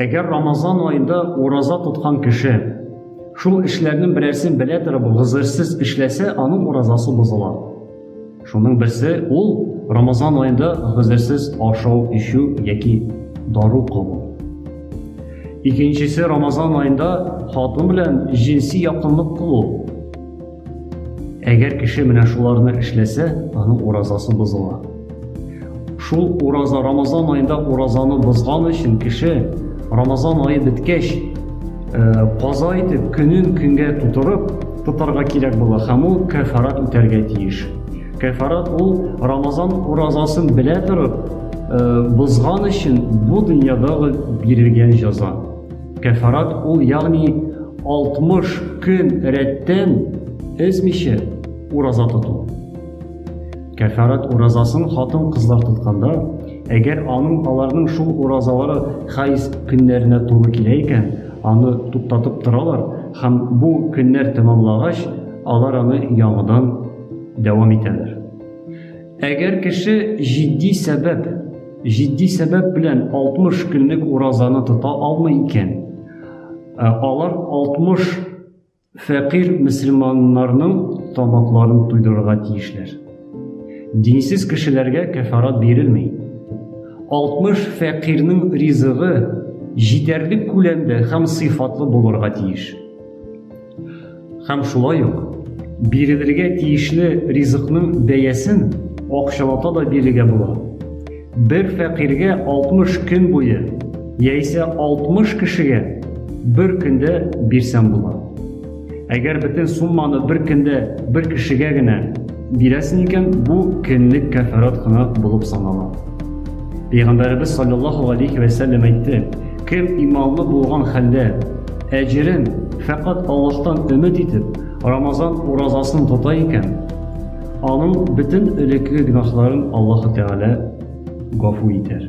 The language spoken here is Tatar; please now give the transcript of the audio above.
Әгәр Рамазан аенда ураза тоткан кеше шул эшләрнең берәрсен белә торып гызырсыз эшләсә, аның уразасы бозыла. Шуның берсе ул Рамазан аенда гызырсыз ашау, ишү яки дару кылу. Икенчесе Рамазан аенда хатын белән җинси якынлык кылу. Әгәр кеше менә шуларны эшләсә, аның уразасы бозыла. Шул ураза Рамазан аенда уразаны бозган өчен кеше Рамазан ае беткәч, каза э, итеп, көнен көнгә тутырып тотарга кирәк була һәм ул кәфарат үтәргә тиеш. Кәфарат ул Рамазан уразасын белә торып, э, бозган өчен бу дөньядагы бирелгән җаза. Кәфарат ул, ягъни 60 көн рәттән эзмичә ураза тоту. Кәфарат уразасын хатын-кызлар тотканда, әгәр аның аларның шул уразалары хайз көннәренә туры килә икән, аны туктатып торалар һәм бу көннәр тәмамлагач, алар аны яңадан дәвам итәләр. Әгәр кеше җитди сәбәп, җитди сәбәп белән 60 көнлек уразаны тота алмый икән, ә алар 60 фәкыйр мөселманнарның тамакларын туйдырырга тиешләр. Динсез кешеләргә кәфарат бирелми. 60 фәкыйрның ризыгы җитәрлек күләмдә һәм сыйфатлы булырга тиеш. Һәм шулай ук бирелергә тиешле ризыкның бәясен акчалата да бирергә була. Бер фәкыйрьгә 60 көн буе яисә 60 кешегә бер көндә бирсәм була. Әгәр бөтен сумманы бер көндә бер кешегә генә Бирәсең икән, бу көнлек кәфарат кына булып санала. Пәйгамбәребез саллаллаху алейхи вә сәлләм әйтте, кем иманлы булган хәлдә әҗерен фәкать Аллаһтан өмет итеп, Рамазан уразасын тота икән, аның бөтен элекке гөнаһларын Аллаһу Тәгалә гафу итәр.